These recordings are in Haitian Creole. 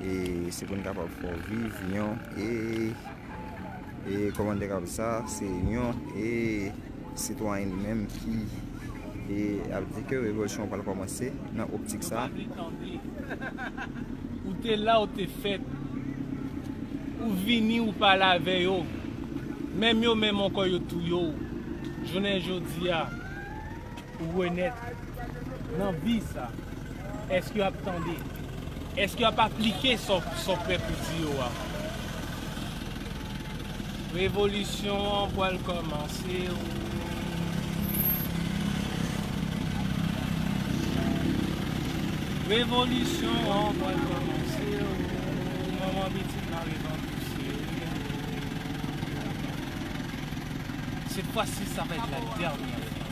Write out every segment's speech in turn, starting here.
e se pou n kapab fè w viv yon e e kòmandè k ap sa se yon e sitwayen li menm ki e ap di ke revolisyon an pral kòmanse nan optik sa. Ou pa gen tan di. Ou te la ou te fèt. Ou vini ou pale avè yo. Menm yo menm ankò yo touye w jounen jodi a. Pou renèt nan vi sa. Èske yo ap tande? Èske yo ap aplike sa w prè pou di yo a? Revolisyon an pral kòmanse o. Revolisyon an pral kòmanse o. Manman pitit la revan pouse o. Sèt fwa si sa va èt la dènyè fwa.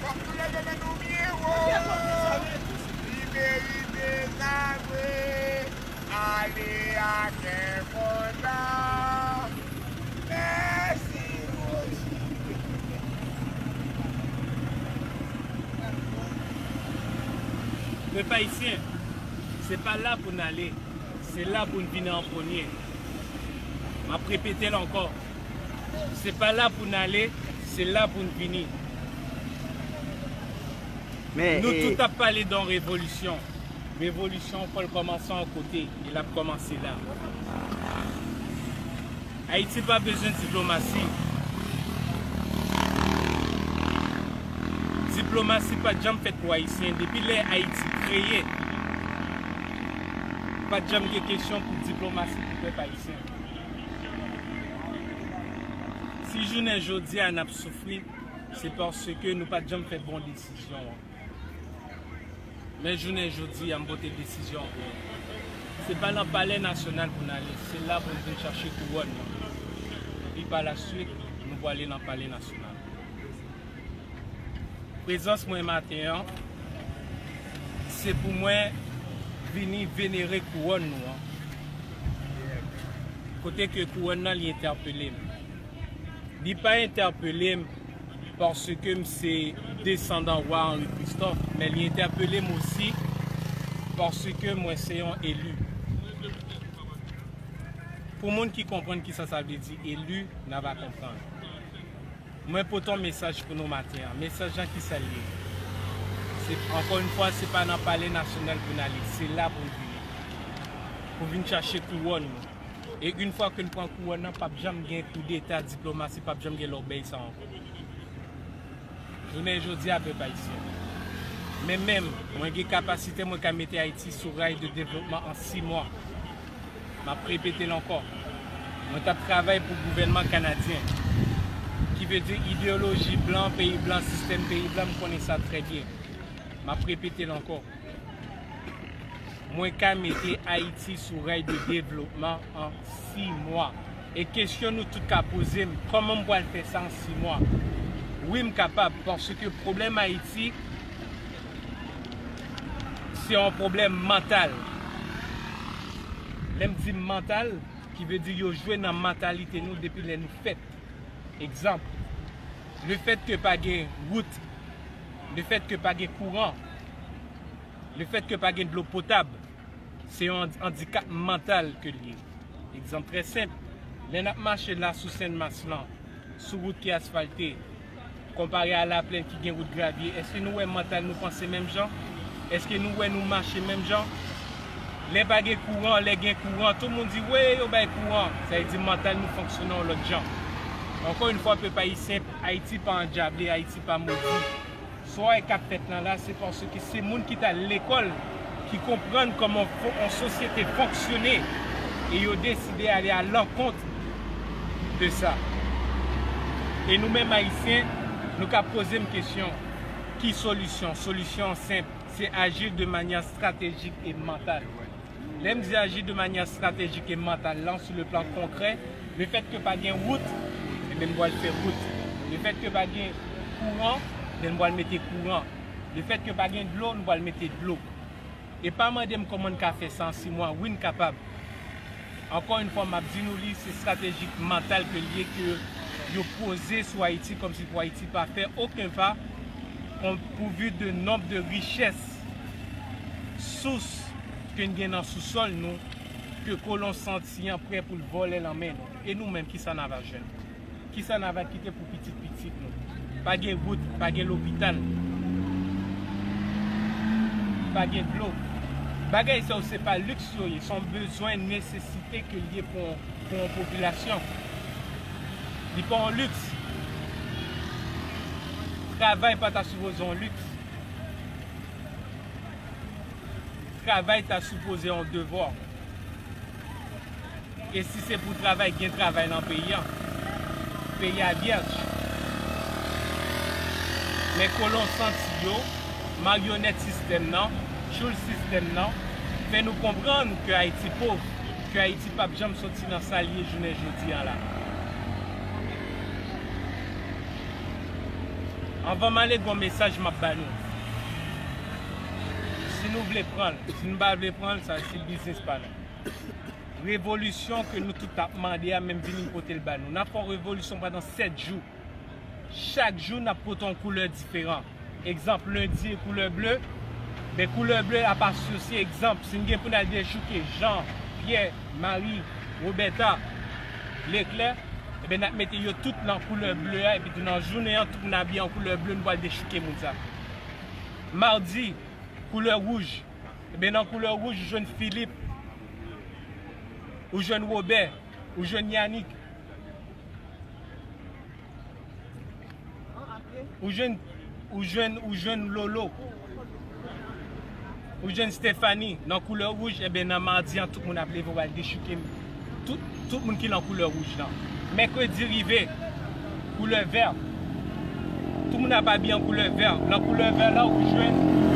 Fok nou leve men nou byen wo. Li merite sa vre. Ale a kè kontan. Mèsi Roji. Pèp Ayisyen, se pa la pou n ale, se la pou n vini an premye. M ap repete l ankò. Se pa la pou n ale, se la pou n vini. Nou tout ap pale don revolisyon. Revolisyon fò l kòmanse yon kote, e l ap kòmanse la. Ayiti pa bezwen diplomasi. Diplomasi pa t janm fèt pou Ayisyen. Depi lè Ayiti kreye, pa t janm gen kesyon pou diplomasi pou pèp Ayisyen. Si jounen jodi a n ap soufri, se paske nou pa t janm fè bon desizyon an. Men jounen jodi a m pote desizyon an pou nou. Se pa nan palè nasyonal pou n ale, se la pou n vin chache kouwòn nan. Epi pa la suit, nou pwale nan palè nasyonal. Prezans mwen maten an, se pou mwen vini venere kouwòn nou an. Kote ke kouwòn nan li entèpele m. Li pa entèpele m paske m se desandan Wa Henri Christophe, men li entèpele m osi paske mwen se yon eli. Pou moun ki konprann kisa sa vle di eli, nan va konprann. Mwen pote yon mesaj pou nou maten an. Mesaj lan ki sa l ye? Se, ankò yon fwa, se pa nan Palè Nasyonal pou n ale. Se la pou n vini. Pou vin chache kouwòn nou. E yon fwa ke n pran kouwòn nan, pap janm gen koudeta, diplomasi, pap janm gen lòbèy sa ankò. Jounen jodi a, pèp ayisyen, mwen menm, mwen gen kapasite mwen ka mete Ayiti sou ray de devlopman an si mwa. M ap repete l ankò, mwen t ap travay pou gouvènman kanadyen, ki vle di ideyoloji blan, peyi blan, sistèm peyi blan, m konnen sa trè byen. M ap repete l ankò, mwen ka mete Ayiti sou ray de devlopman an si mwa. E kesyon nou tout ka poze m, kòman m pral fè sa an si mwa? Wi m kapab, paske pwoblèm Ayiti, Se yon pwoblèm mantal. Lè m di mantal, ki vle di yo jwe nan mantalite nou depi lè nou fèt. Egzanp, lefètke pa gen wout, lefètke pa gen kouran, lefètke pa gen dlo potab, se yon andikap mantal ke l ye. Egzanp trè senp, lè n ap mache la sou Sen Mas lan, sou wout ki asfalte, Konpare a laplenn ki gen wout gravye, èske nou wè mantal nou panse menm jan? Èske nou wè nou mache menm jan? Lè pa gen kouran, lè gen kouran, tou moun di, wee, yo bay kouran! Sa vle di mantal nou fonksyone yon lòt jan. Ankò yn fwa, pèp Ayisyen, Ayiti pa andjable, Ayiti pa modi. Soy kap fèt lan la se paske se moun ki tal lekòl ki konprann kòman yon sosyete fonksyone e yo deside ale a lankont de sa. E nou menm ayisyen nou ka poze m kesyon ki solisyon? Solisyon an senp, se aji de manyè stratejik e mantal. Lè m di aji de manyè estratejik e mantal lan sou le plan konkrè, lefèt ke pa gen wout, enben m pral fè wout. Lefèt ke pa gen kouran, enben m pral mete kouran. Lefèt ke pa gen dlo, m pral mete dlo. E pa mande m kòman n ka fè sa an 6 mwa, wi n kapab. Ankò yn fwa m ap di nou li se estrateji mantal ke l ye ke yo poze sou Ayiti kòmsi pou Ayiti pa fè oken pa konpouvi de nonb de richès sous ke n gen nan sousòl nou ke kolon santi an prè pou l vòlè lan men nou. E nou menm kisa na va jwenn? Kisa na va kite pou pitit pitit nou? Pa gen wout, pa gen lopital, pa gen dlo. Bagay sa yo se pa liks yo ye, se yon bezwen nesesite ke l ye pou yon popilasyon. Li pa yon liks. Travay pa ta sipoze yon liks. Travay ta sipoze yon devwa. E si se pou travay, gen travay nan peyi a. Peyi a vyèj. Men kolon santi yo, maryonèt sistèm nan, tchoul sistèm nan, fè nou konprann ke Ayiti pov, ke Ayiti pap janm soti nan sa l ye jounen jodi a la. Anvan m ale gon mesaj map ba nou. Si nou vle pran l, si nou pa vle pran l sa se biznis pa nou. Revolisyon ke nou tout ap mande a menm vini m pote l ba nou. Nap fè yon revolisyon pandan 7 jou. Chak jou nap pote yon koulè diferan. Egzanp lendi e koulè ble, ben koulè ble ap asosye egzanp si n gen pou n al dechouke Jan, Pyè, Mari, Wobèta, Leklè. Ebyen nap mete yo tout nan koulè ble a epitou nan jounen an tout moun abiye an koulè ble nou pral dechouke moun sa. Madi, koulè wouj, ebyen nan koulè wouj ou jwenn Filip, ou jwenn Wobè, ou jwenn Yanik, ou jwenn ou jwenn ou jwenn Lolo. Ou jwenn Stephanie nan koulè wouj enben nan mardi an tout moun ap leve wal dechouke tout moun ki nan koulè wouj lan. Mèkredi rive koulè vè tout moun ap abiye an koulè vè nan koulè vè lan ou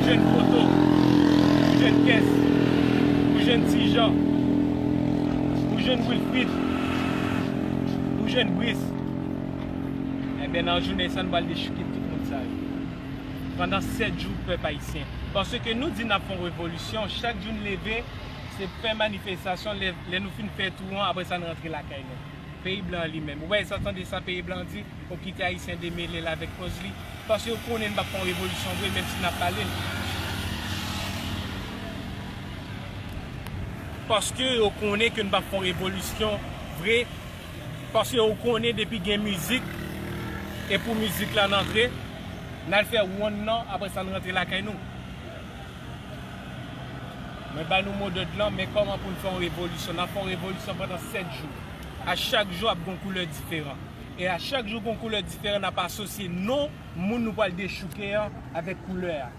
jwenn poto, ou jwenn kès, ou jwenn ti jan, ou jwenn wilfrid, ou jwenn bris enben nan jounen sa nou pral dechouke tout moun sa yo. pandan 7 jou pèp ayisyen paske nou di nap fon revolisyon chak jou n leve se fè manifestasyon lè nou fin fè tou an aprè sa n rantre lakay nou peyi blan an li menm ou bay sa tande sa peyi blan an di ou kite ayisyen demele l avèk koz li paske yo konnen n pap fon revolisyon vre menm si nap pale l paske yo konnen ke n pap fon revolisyon vre. Paske ou konnen depi gen mizik e pou mizik lan antre nal fè wonn nan aprè sa n rantre lakay nou. Mwen ba nou modòd lan men kòman pou n fè yon revolisyon nap fè yon revolisyon pandan 7 jou a chak jou ap gen yon koulè diferan e a chak jou gen yon koulè diferan nap asosye non moun nou pwal dechouke an avèk koulè a.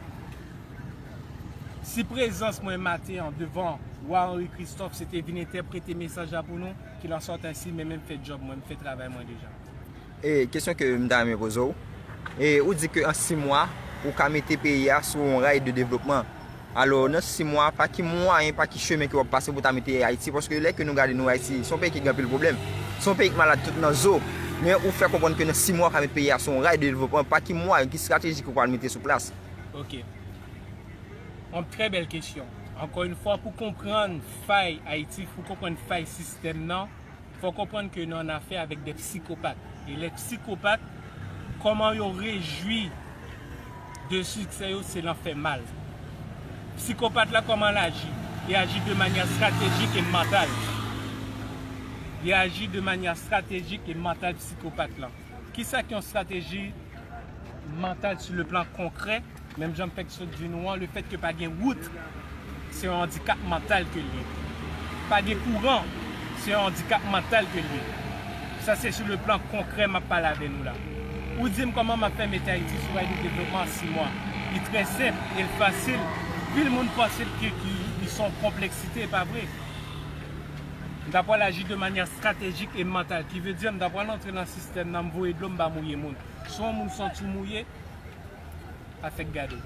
Si prezans mwen maten an devan Wa Henri Christophe se te vin entèprete mesaj la pou nou. Ki lan sòt ensi men men fè djòb mwen, m fè travay mwen deja. E kesyon ke m ta renmen poze w, e ou di ke an 6 mwa ou ka mete peyi a sou yon ray de devlopman. Alò nan 6 mwa pa ki mwayen, pa ki chemen ke w ap pase pou ta mete Ayiti, paske lè ke nou gade nou Ayiti se yon peyi ki gen anpil pwoblèm, se yon peyi ki malad tout nan zo, men ou fè konprann ke nan 6 mwa ou ka mete peyi a sou yon ray de devlopman, pa ki mwayen, ki strateji ke w pral mete sou plas? Ok. Yon trè bèl kesyon. Ankò yon fwa pou konprann fay Ayiti, pou konprann fay sistèm nan, fò w konprann ke nou an afè avèk de psikopat. E lè psikopat, kòman yo rejwi de siksè yo, se lan fè mal. Psikopat la kòman l aji? Li aji de manyè estratejik e mantal. Li aji de manyè estratejik e mantal psikopat lan. Kisa ki yon estrateji mantal sou le plan konkrè? Menm jan m fèk sot di nou an, lefèt ke pa gen wout, se yon andikap mantal ke l ye. Pa gen kouran, se yon andikap mantal ke l ye. Sa se sou le plan konkrè m ap pale avè nou la. Ou di m kòman m ap fè mete Ayiti sou ray de devlopman an 6 mwa. Li trè senp e l fasil. Pil moun panse l ke li se yon konpleksite, e pa vre. M ta pral aji de manyè estratejik e mantal. Ki vle di m ta pral antre nan sistèm nan, m voye dlo, m pa mouye moun. Si yon moun santi w mouye. pa fèk gade.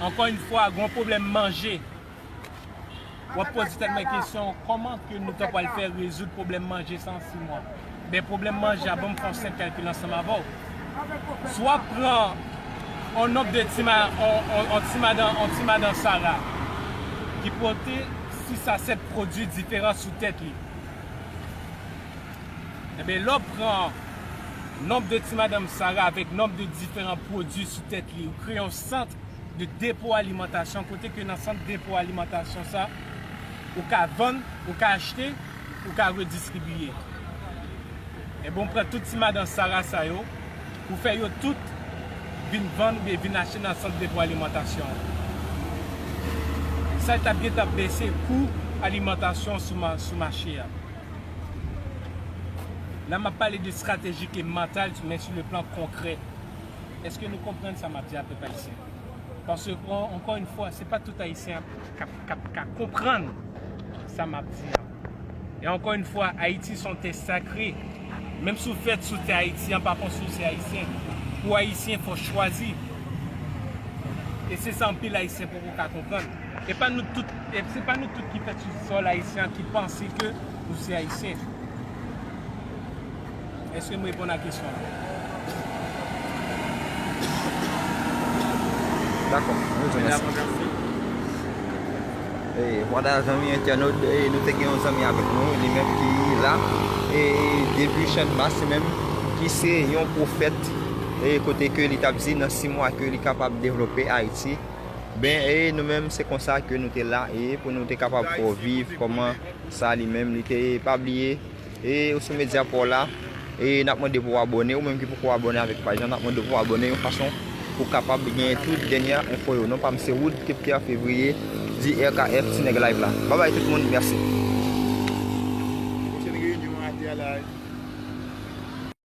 Ankò yn fwa gon pwoblèm manje. Wap poze tèt mwen kesyon kòman ke nou ta pwal fè rezoud pwoblèm manje sa an 6 mwa. Ben pwoblèm manje a banm fè yon senp kalkil ansanm avèw. Si wap pran yon nonb de ti ma yon ti madan yon ti madan sara ki pote 6 a 7 pwodwi diferan sou tèt li. Enben lè w pran nonb de ti madanm Sara avèk nonb de diferan pwodui sou tèt li, ou kreye yon sant de depo alimantasyon kote ke nan sant depo alimantasyon sa, ou ka vann, ou ka achte, ou ka redistribiye. Enben ou pran tout ti madan Sara sa yo, ou fè yo tout vin vann oubyen vin achte nan sant depo alimantasyon an. Sa li t ap gen t ap bese kou alimantasyon sou mache a. La map pale de stratejik e mantal men sou le plan konkrè. Eske nou konprann sa map di a pèp ayisyen? Pase ankò yn fwa se pa tout ayisyen kap ka konprann sa map di a. E ankò yn fwa Ayiti son tè sakre. Menm si w fèt sou tè Ayiti an pa fò si w se ayisyen. Pou ayisyen fò chwazi. E se sa anpil ayisyen poko ka konprann. E pa nou tout, e se pa nou tout ki fèt sou sòl ayisyen an ki panse ke nou se ayisyen. Eske m reponn a kesyon an? Dakò, mwen di w mèsi. E vwala zanmi entènot, nou te gen yon zanmi avèk nou, li menm ki la e depi channmas li menm ki se yon pwofèt e kote ke li t ap di nan 6 mwa ke li kapab devlope Ayiti. Ben, e nou menm se konsa ke nou te la, e pou nou te kapab fè w viv kòman sa li menm li te ye. Pa bliye, e ou sou medya pa w la, e n ap mande pou w abòne, ou menm ki poko abòne avèk paj la, n ap mande pou w abòne yon fason pou w kapab genyen tout dènya enfo yo. Non pa m se Wood T. Pierre Février, di RKF, Ti Nèg Live la. Babay tout moun, mèsi. Pwochèn reyinyon a te a la.